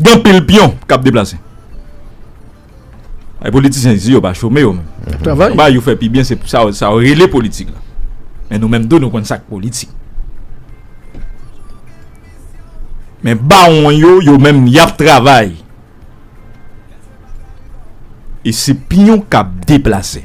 Gen anpil pyon k ap deplase. Ay politisyen isi yo pa chome yo menm. Y ap travay. Konba yo fè pi byen se sa yo rele politik la. Men nou menm tou nou konn sa k politik. Men bawon yo yo menm y ap travay. E se pyon k ap deplase.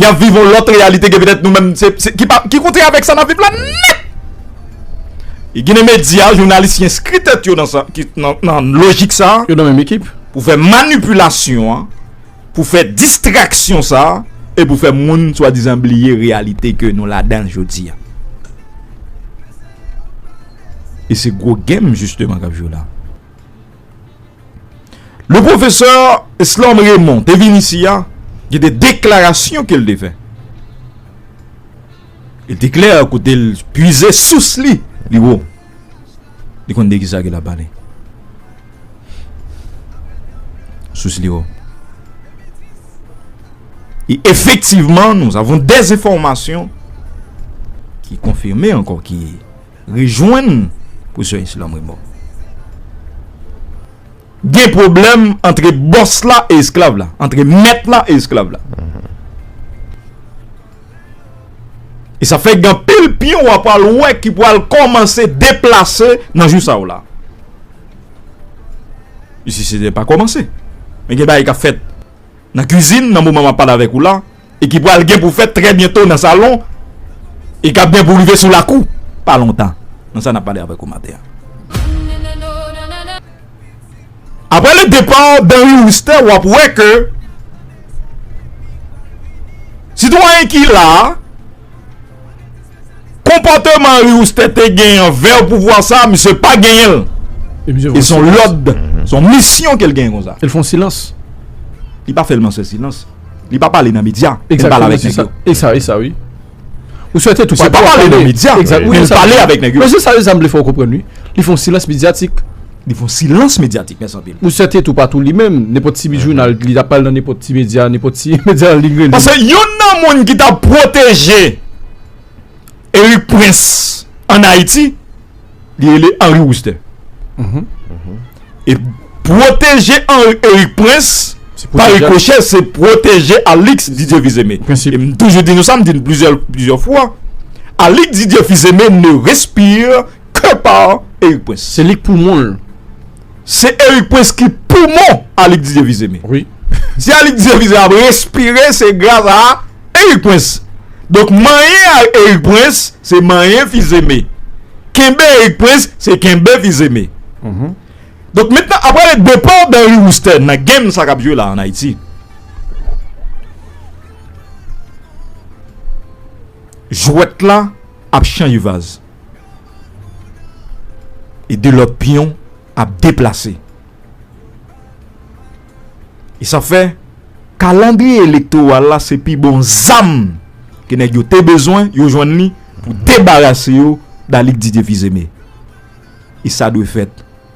Y ap viv yon lòt reyalite ke petèt nou menm se, se, ki kontre avèk sa n ap viv la nèt! E ginen medya, jounalis ki enskri tèt yo nan sa, ki nan lojik sa a, yo nan menm ekip, pou fè manipilasyon an, pou fè distraksyon sa a, e pou fè moun swadizan bliye reyalite ke nou ladan l jodi a. E se gwo game jisteman k ap jwe la. Le pwofesè Eslòm Remon te vin isi a, gen de deklarasyon ke l te fè. E te klè kote l pwize sous li, li wo. Li konn de ki sa ke l ap pale. Sous li wo. E efektivman, nou avon de zenfòmasyon ki konfime ankò ki... Rejwenn pou sè Islam remò. Gen pwoblèm antre bòs la e esklav la, antre mèt la e esklav la. E sa fè gen pil pyon w ap al wè ki pral kòmanse deplase nan jou sa yo la. Isi se te pa kòmanse. Men gen bagay k ap fèt nan kizin nan moman m ap pale avèk ou la. e ki pral gen pou fèt trè byento nan salon e kap gen pou rive sou lakou pa lontan nan sa nap pale avèk ou maten an. Aprè le depart d'Henri Wooster wap wè ke sitwayen ki la a. Konpòteman Riouste te gen anvè pouvwa sa, misye pa genyen l. E son lòd, son misyon ke l genyen konsa. E l fon silans. Li pa sèlman fè silans. Li pa pale nan medya. E l pale avèk nèg yo. E sa, e sa wi. Ou swete tout pa pale nan medya. E l pale avèk nèg yo. Mèsi sa yo zanm vle fè w konprann wi. Li fon silans medyatik. Li fon silans medyatik. Mèsi anpil. Ou sèten tou pa tou li menm. Nenpòt ti jounal li ta pral nan nenpòt ti medya, nenpòt ti medya an liy rele. Pase youn nan moun ki ta pwoteje Erik Prens an Ayiti, li rele Henri Roustin. E pwoteje Erik Prens pa rikochè se pwoteje Alix Didier Fils-Aimé. E m toujou di nou sa, m di nou plizyè fwa, Alix Didier Fils-Aimé ne respire Kè pa Eric prince. Se lik poumon l. Se Eric prince ki poumon Alix Didier Visé me. Wi. Si Alix Didier Visé ap respire se gras a Eric prince. Donk manyen a Eric prince se manyen Visé me. Kenbe Eric prince se kenbe Visé me. Donk mentnan aprè le départ d'Henry Roustè nan game sa kap jwe la an Ayiti. Jwèt la ap chanje vaz. E de lòt pyon ap deplase. E sa fè kalandriye elektoral la se pi bon zam ke nèg yo te bezwen, yo jwenn li pou debarase yo da Lig Didye Fizeme. E sa dwe fèt.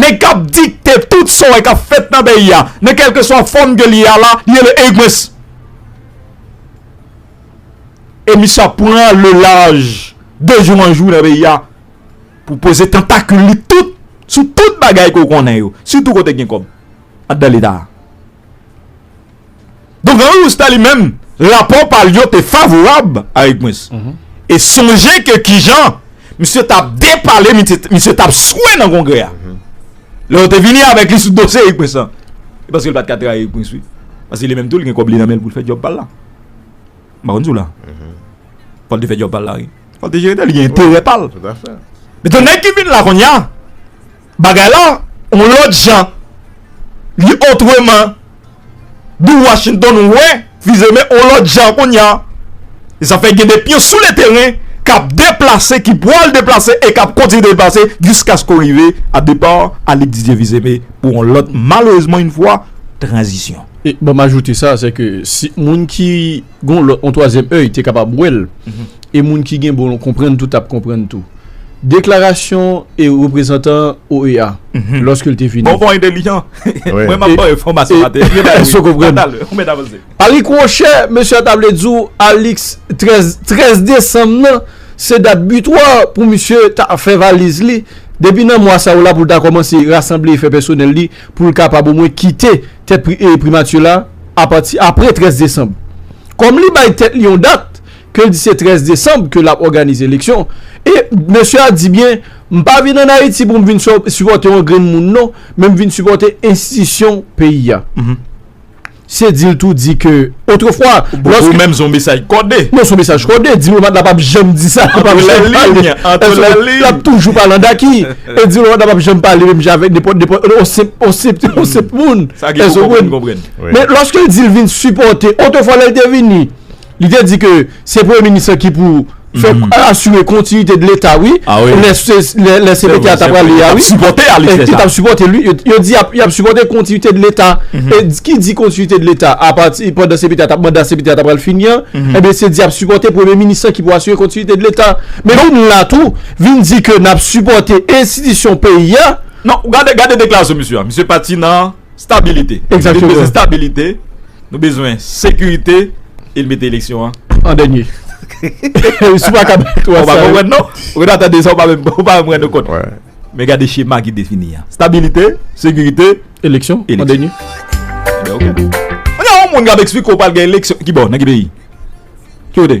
Nèg kap dikte tout sa w wè kap fèt nan peyi a nan kèlkeswa fòm ke li ye a la li rele Eggmens e misye ap pran le laj de jou an jou nan peyi a pou poze tantakil li tout sou tout bagay ke w konnen yo sitou kote gen kòb anndan leta a. Donk Henri Rousta li menm, rapò pa l yo te favorab a Erik Prince. E sonje ke kijan misye t ap depale, misye t ap swe nan Kongrè a. Lè yo te vini avèk li sou dosye Erik Prince lan, e paske l pa t ka trayi Erik Prince wi. Paske li menm tou li gen kòb li nan men l pou l fè djòb pa l la. M pa konn si w la. Fò l te fè djòb pa l la wi. Fò l te jere tè l, li gen enterè pa l. Mètnan nèg ki vin la kounya. Bagay la on lòt jan li otreman di Washington wè vize men on lòt jan kounya zafè gen de pyon sou le teren k ap deplase ki pwal deplase e k ap kontinye deplase jiskaske ou rive a depa Alix Didier vize men pou on lòt malerezman in fwa tranzisyon. E banm ajoute sa sèke si moun ki. gon lòt on twazyèm èy te kapab wè l e moun ki gen bon konprann tou t ap konprann tou deklarasyon e reprezantan OEA lòske l te vini. Bon bon entelijan mwen m ap ba w enfòmasyon maten an. Èske w konprann? Ou mèt avanse. Arik Wòchè, mesye a ta vle di w Alix 13, 13 desanm nan se dat bitwa pou misye ta fè valiz li depi nan mwa sa w la pou l ta kòmanse rasanble efè pèsonèl li. pou l kapab omwen kite tèt Primati la apati apre 13 desanm. Kòm li bay tèt li yon dat, ke l di se 13 desanm ke l ap òganize eleksyon, e mesye a di byen, m pa vin ann Ayiti pou m vin sipòte yon grenn moun non, men m vin sipòte enstitisyon peyi a. Se di l tou di ke otrefwa lòske. Ou menm son mesaj kode. Non son mesaj kode. Diplomat la pap janm di sa. Antre lè liy. Antre lè liy. Lap toujou pale an daki. E diplomat la pap janm pale menm jan avèk nenpòt nenpòt on senp on senp on senp moun. Sa ki pou konprann konprann. Men lòske l di l vin sipòte. Otrefwa lè l te vini. Li te di ke se premye minis lan ki pou fè asire kontinite de leta wi, lè CPT a ta prale ya wi, yo tap sipote l wi, yo di yap sipote kontinite de leta, ki di kontinite de leta a pati pandan CPT a tap manda CPT a ta prale fini an, ebyen se di yap sipote premye minis lan ki pou asire kontinite de leta, men nou menm la tou vin di ke nap sipote enstitisyon peyi a. Non, gade deklarasyon misye a, misye pati nan. Stabilite. Exactement. Nou bezwen stabilite, nou bezwen sekirite e l mete eleksyon an. An dènye. Si w pa ka bay 3 sa yo. Ou pa konprann non. Ou ta tande sa ou pa menm ou pa menm rann ou kont. Men gade chema ki defini an. Stabilite, sekirite. Eleksyon an dènye. Ebyen ok. Mwen gen yon moun k ap eksplike w pa al gen eleksyon. Ki bò? Nan ki peyi? Ki kote?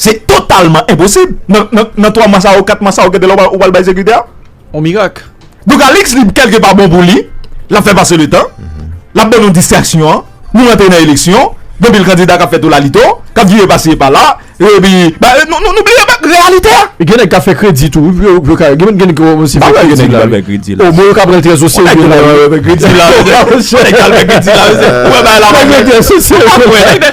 Se totalman enposib. Nan 3 mwa sa yo, 4 mwa sa yo gen de lè ou pral bay sekirite a. On mirak. Donk Alix li kèlke pa bon pou li. Lap fè pase le tan. Lap ban nou distraksyon. Nou rantre nan eleksyon. Gen anpil kandida kap fè tolalito. Kap vire pasi e pala. E pi. Nou bliye bat reyalite a. Gen nèg kap fè kredi tou. Gen nèg ki kòmanse fè kredi la. O mwen yo kap rantre nan sosye. Gen nèg kap fè kredi la. Gen nèg kap fè kredi la. Ou wè bagay la. Ou wè bagay la.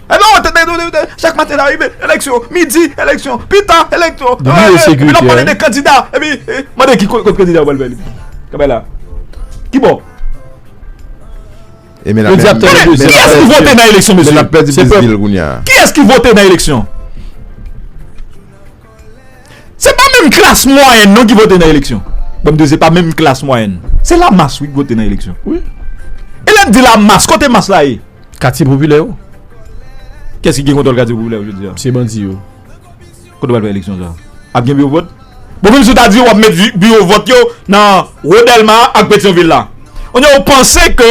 Ebyen ou tande nou di chak maten lè a rive eleksyon, midi eleksyon, pita eleksyon, epi lap pale de kandida, epi mande ki kot kandida ou pral fè li menm? Kanpe la. Ki bò? Tande, kiyès ki vote nan eleksyon mesye? Se pèp. Kiyès ki vote nan eleksyon? Se pa menm klas mwayèn non ki vote nan eleksyon. Banm de se pa menm klas mwayèn. Se la mas wi ki vote nan eleksyon. E lèm di la mas, kote mas la ye? Katye popilè yo. Kiyès ki gen kontwòl katye popilè yo jodi a? Se bandi yo. Kote yo pral fè eleksyon sa? Ap gen biwo vòt? Bon menm si w ta di wap met biwo vòt yo nan Wo Dèlma ak Petyon vil la. On diè ou panse ke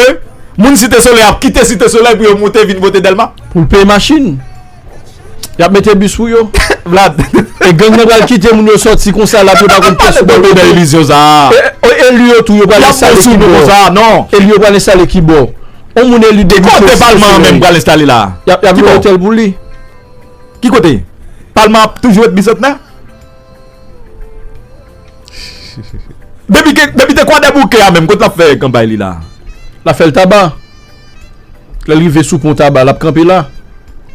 moun Site Solèy ap kite Site Solèy pou yo moute vin vote Dèlma? Pou l peye machin. Yap mete bis pou yo. Vlad. E gang nan pral kite moun yo soti konsa la pou yo pa konn pyès sou bò nan ilizyon sa a. E eli yo tou yo pral enstale ki bò. Eli yo pral enstale ki bò. On moun eli depi Chofis. Ki kote palman an menm pral enstale la? Yap gen yon otèl pou li. Ki kote? Palman ap toujou ret Bisantnè? Depi te kwadèboukè a menm kot lap fè kanpay li la? Lap fèl taba. Lè l rive sou pon Taba, l ap kanpe la.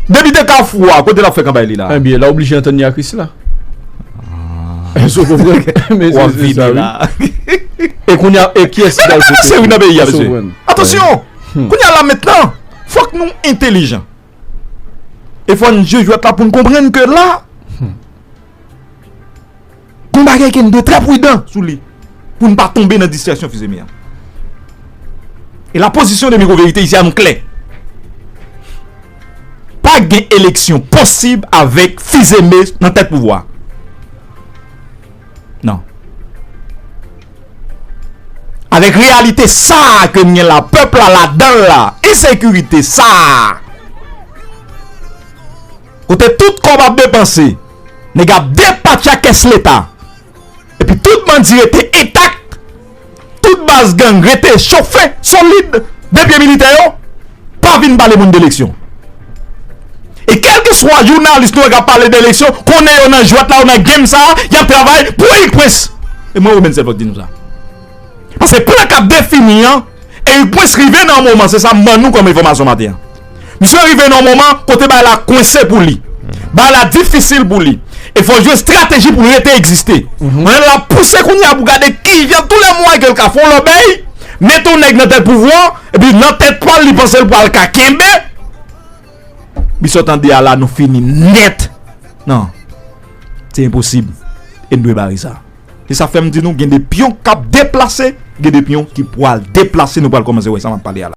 Depi te Kafou a, kote l ap fè kanpay li la? Enbyen, l a oblije antann li a Krisla. Èske w konprann? Men se se sa wi. E kounye a, e kiyès ki pral vote pou l? Sa se wi nan peyi a, mesye. Atansyon! Kounye a la mentnan, fòk nou entelijan. E fò n jwe jwèt la pou n konprann ke la. Yon bagay ke n dwe trè prudan sou li pou n pa tonbe nan distrèksyon fizemi an. E la pozisyon de Mikro Verite isi a nou klè. Pa gen eleksyon posib avèk fizeme nan tèt pouvwa. Nan. Avèk reyalite sa a ke n gen la, pèp la ladan l la, ensekirite sa a, kote tout kòb ap depanse, Nèg yo ap depatcha kès leta. Epi tout bandi rete entak. Tout baz gang rete chofe, solid. De pye militè yo. Pa vin pale moun de eleksyon. E kelke swa jounalis nou wè k ap pale de eleksyon, konnen yo nan jwèt la, yo nan game sa a, y ap travay pou Erik Prince. E mwen Robinson Fòk di nou sa. Paske plan kap defini an e yon pwens rive nan yon moman se sa m ban nou kòm enfòmasyon maten an. Misye rive nan yon moman kote bagay la kwense pou li. Bagay la difisil pou li. E fòl jwe estrateji pou rete egziste. Mwen la pouse kounye a pou gade kijan tou lè mwaye ke l ka fè yon lòbèy, mete yon nèg nan tèt pouvwa an, epi nan tèt pa l li panse l pral ka kenbe. Misye w tande a la nou fini nèt. Non. Se enposib. E n dwe bare sa. Se sa fèm di nou gen de pyon kap deplase, gen de pyon ki pwal deplase nou pwal kòmanse wè sa map pale a la.